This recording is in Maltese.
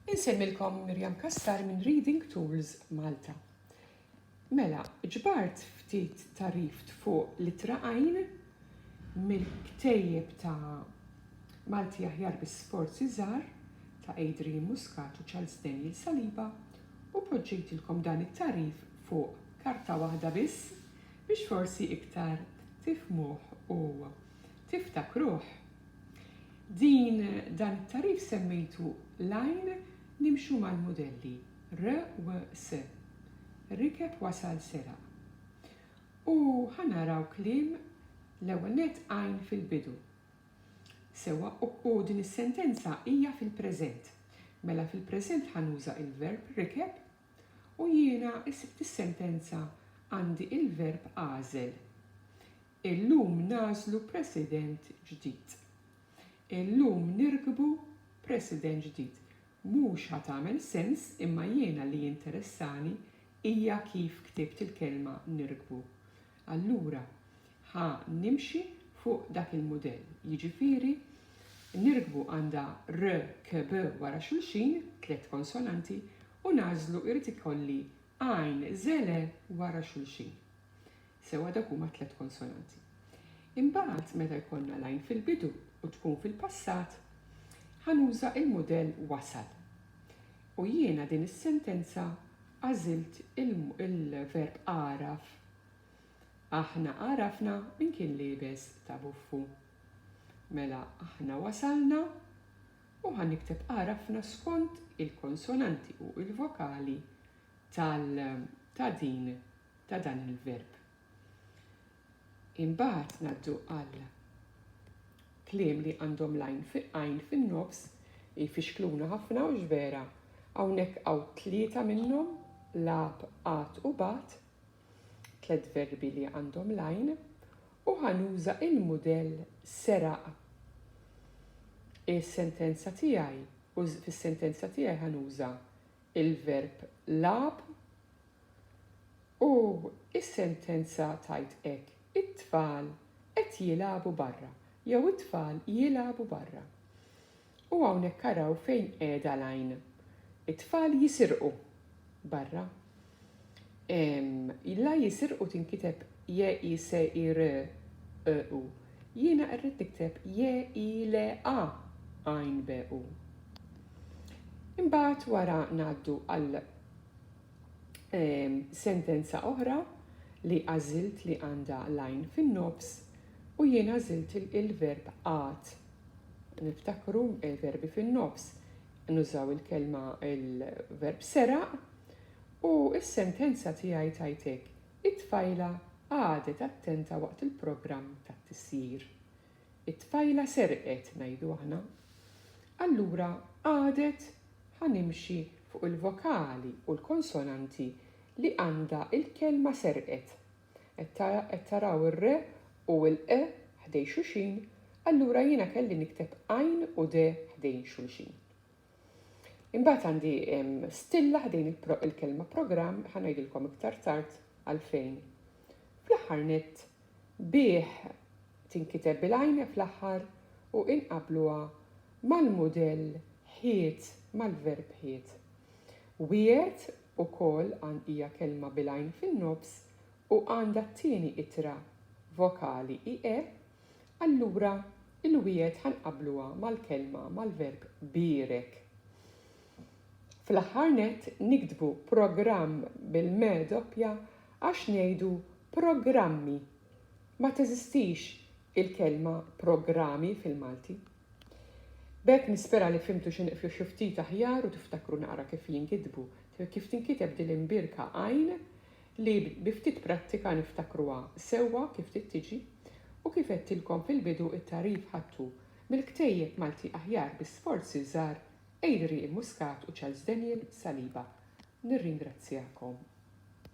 Insemmilkom Miriam Cassar minn Reading Tools Malta. Mela, ġbart ftit tarif fuq l-ittra għajn mill-ktejjeb ta' Malti aħjar bi sforzi żgħar ta' Adrian Muscat u Charles Daniel Saliba u poġġejtilkom dan it-tagħrif fuq karta waħda biss biex forsi iktar tifhmuh u tiftakruh. Din dan it-tagħrif semmejtu l-għajn nimxu mal-mudelli r u s. Rikeb wasal seraq. U ħa naraw kliem l-ewwel nett għajn fil-bidu. Sewwa u din is-sentenza hija fil-preżent. Mela fil-preżent ħa nuża il-verb rikeb u jiena fis-sentenza għandi il-verb għażel. Illum nagħżlu President ġdid. Illum nirkbu President ġdid. Mhux ħa tagħmel sens imma jiena li jinteressani hija kif ktibt il-kelma nirkbu. Allura ħa nimxi fuq dak il-mudell. Jiġifieri nirkbu għandha r, k, b wara xulxin, tliet konsonanti, u nagħżlu jrid ikolli għajn, żele wara xulxin. Sewwa dawk huma tliet konsonanti. Imbagħad meta jkollna l-għajn fil-bidu u tkun fil-passat, ħa nuża l-mudell wasal. U jiena din is-sentenza għażilt il-verb għaraf. Aħna għarafna min kien liebes ta' buffu. Mela aħna wasalna u ħa nikteb għarafna skont il-konsonanti u l-vokali tal ta' din ta' dan il-verb. Imbagħad ngħaddu għal kliem li għandhom l-għajn għajn fin-nofs li jfixkluna ħafna u vera hawnhekk hawn tlieta minnhom lab, qat u bat, tliet verbi li għandhom l-għajn u ħanuża il-mudell seraq. Is-sentenza tiegħi u fis-sentenza tiegħi ħanuża il-verb lab U s-sentenza tgħid hekk, it-tfal qed jilagħbu barra jew it-tfal jilagħbu barra. U hawnhekk araw fejn qiegħda l-għajn. It-tfal jisirqu barra. La jisirqu tinkiteb j-i-s-i-r-q-u. Jiena rrid nikteb j-i-l-a għajn b-u. Imbagħad wara ngħaddu għal sentenza oħra li għażilt li għandha l-għajn fin-nofs u jien għażilt il-verb għad. Niftakru il-verbi eh, fin-nofs nużaw il-kelma il-verb seraq u s-sentenza tiegħi tajtek it-tfajla għadet attenta waqt il-programm tat-tisjir. It-tfajla serqet, ngħidu aħna. Allura qagħdet ħa nimxi fuq il-vokali u l-konsonanti li għandha l-kelma serqet. Qed taraw ir-re u l-qe ħdej xuxin, allura jiena kelli nikteb għajn u de ħdejn xulxin. Imbagħad għandi stilla ħdejn il-kelma programm, ħa ngħidilkom iktar tard għalfejn. Fl-aħħar nett, bih tinkiteb bil-għajn fl-aħħar u inqabluha mal-mudell ħiet mal-verb ħiet. Wiegħed ukoll għan hija kelma bil-għajn fin-nofs u għandha t-tieni ittra vokali i e Allura, il-wiegħed ħa nqabbluha mal-kelma, mal-verb bierek. Fl-aħħar nett, niktbu programm bil-me doppja għax ngħidu programmi. Ma teżistix il-kelma programi fil-Malti. B'hekk nispera li fhimtu xi nqfju xi ftit aħjar u tiftakru naqra kif jinkitbu, kif tinkiteb din l-imbierka għajn li bi ftit prattika niftakruha sewwa kif trid tiġi u kif għedtilkom fil-bidu t-tagħrif ħadtu mill-ktejjeb Malti aħjar bi sforzi żgħar Adrian Muscat u Charles Daniel Saliba. Nirringrazzjakom.